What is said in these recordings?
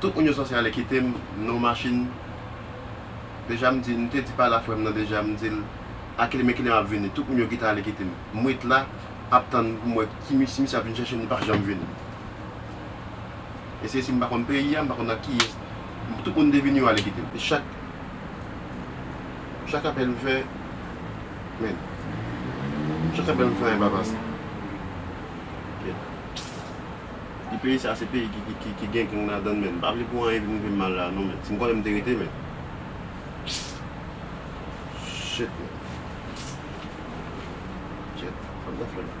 Tout moun yo sòsè ale kitem non machine deja m di m te di pala frèm nan deja m dil a kilè men kilè map vini tout moun yo gite ale kitem m ret la ap tann pou m wè ki si misye ap vin chèchem li pa janm vini mesye isi m pa konn peyi a m pa konn ak kiyès tout moun te vini yo ale kitem e chak chak apèl m fè men chak apèl m fè anyen pa pase. Di peyi sa se peyi ki gen gang ladann menn. M pa vle pou anyen vin rive m mal la non menn. Si m konnen m te rete menn. Shit menn. Shit. Sa m ta fè la.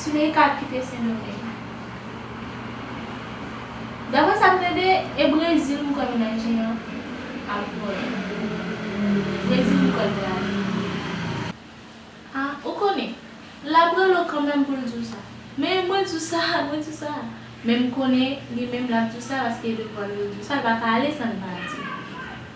Suleika ki te Sendomeng. Dapre sa m tande, e Brezil m kwè menaje an ap vole. Brezil m kwè l prale. A, ou konnen. L ap rele w kanmenm pou l di w sa. Men, mwen di w sa, mwen di w sa. Men m konnen, li menm l ap di w sa paske e devwa l pou l di w sa. L pa ka ale san l pa di.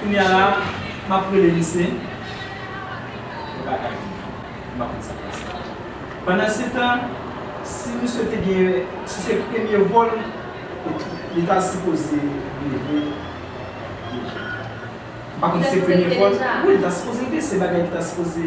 Kounya la map rele misye Mwen pa ka di Mwen pa konn sak pase Pandan se tan si misye te gen si se premye vol li ta sipoze leve deja Mwen pa konn si se premye vol wi li ta sipoze leve se bagay ki ta sipoze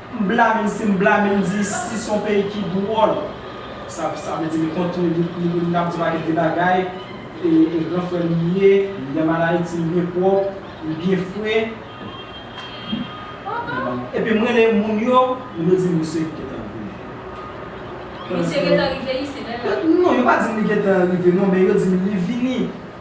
M blame si m blame m di si son peyi ki dwòl. Sa sa vle di li kontre li li li tap di pa gen de bagay e e gran frè m ye m dèm al ayiti m byen pwòp m byen fre epi m rele moun yo moun yo di m misye gentan rive misye gentan rive isit lè nan non yo pa di m li gentan rive non men yo di m li vini.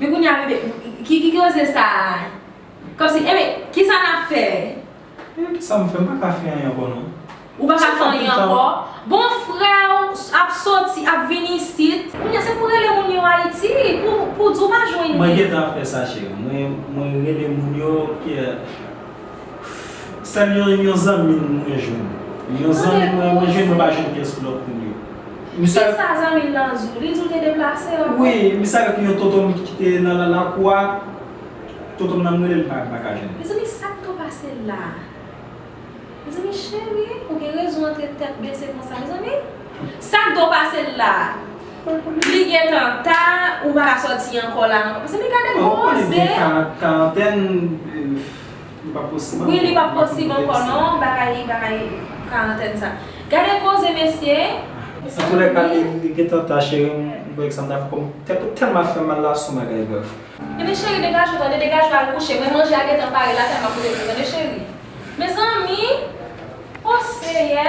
Men kounye a rive ki ki koze sa Komsi enben kisa nap fè. Menm kisa m fè m paka fè anyen ankò non. Ou paka fè anyen ankò? Bon frèw ap soti ap vin isit. Kounya se pou rele moun yo ayiti pou di w pa jwenn li. Mwen gentan ap fè sa cheri mwen rele moun yo. Sèl yon yon zanmi l mwen jwenn. Yon zanmi l mwen jwenn mwen pa jwenn pyès lòt pou li. Kisa zanmi l lan di w? Li di w te deplase ankò? Wi, li se avèk yon tonton li ki kite nan nan lakou a. Tonton m nan m rele l pa ka jwenn. Mezanmi sak tou pase la? Mezanmi cheri ou gen rezon antre tèt bese konsa mezanmi? Sak do pase l la. Li gentan ta ou pa ka soti ankò la ankò paske li ka de gwo ze. Wi li pap posib ankò non bagay bagay karantèn sa. Gade koze mesye. Ebyen cheri degaje w tande degaje w al kouche men manje a gentan pare la tèlman kote l ye tande cheri. Mezanmi oh seyè.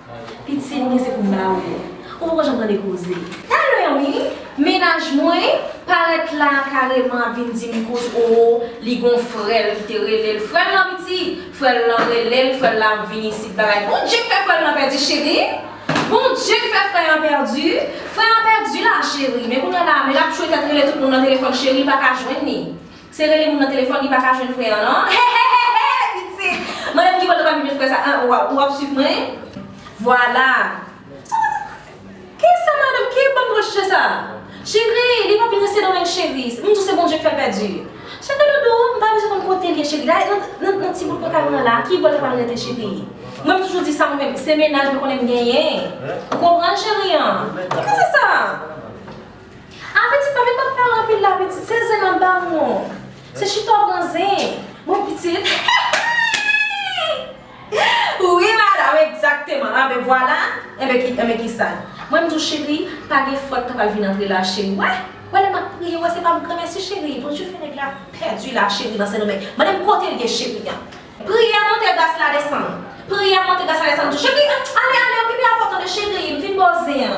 Pitit mwen se pou m ba ou yo. Ou poko janm tande koze. Talè wi, mennaj mwen parèt la kareman ap vin di m kouz oo li gon frè l ki te rele l frè l lan piti, frè l lan rele l, frè l lan ap vin isit bagay. Bondye k fè frè l lan pèdi cheri! Bondye k fè frè an pèdi! Frè an pèdi la cheri, men kounye a la men l ap tchwe tèt rele tout moun nan telefòn cheri l pa ka jwenn li. Se rele moun nan telefòn li paka jwenn frè an non hehehehe pitit mwen menm ki bò nou paka jwenn frè sa an waw ou ap swiv mwen vwala sa vle di kisa madanm ki bann lòt chen sa cheri li pa vin sendomeng cheri m di w se bondye k fèl pèdi cheri doudou m pa bezwen konn kotel ye cheri la nan nan ti bout kòt a mwen la ki bò l ta pral rete cheri mwen m toujou di sa mwen menm se menaj mwen konnen m genyen ou konprann cheri an kisa se sa. Ah pitit pa vin bak pale anpil la pitit se zen map ba ou an se chita ou pran zen mwen pitit hehehehe wi madam egzakteman anben vwala enben ki enben kisa mwen m di w cheri pa gen fòt kap al vin antre la cheri wè wè lè map priye wè se pa m gran mèsi cheri bondye fè nèg la pèdi la cheri nan sendone mandem kote l ye cheri an priye a monte gras la desann priye a monte gras la desann m di w cheri ale ale okipe avè w tande cheri m vin ba w zen an.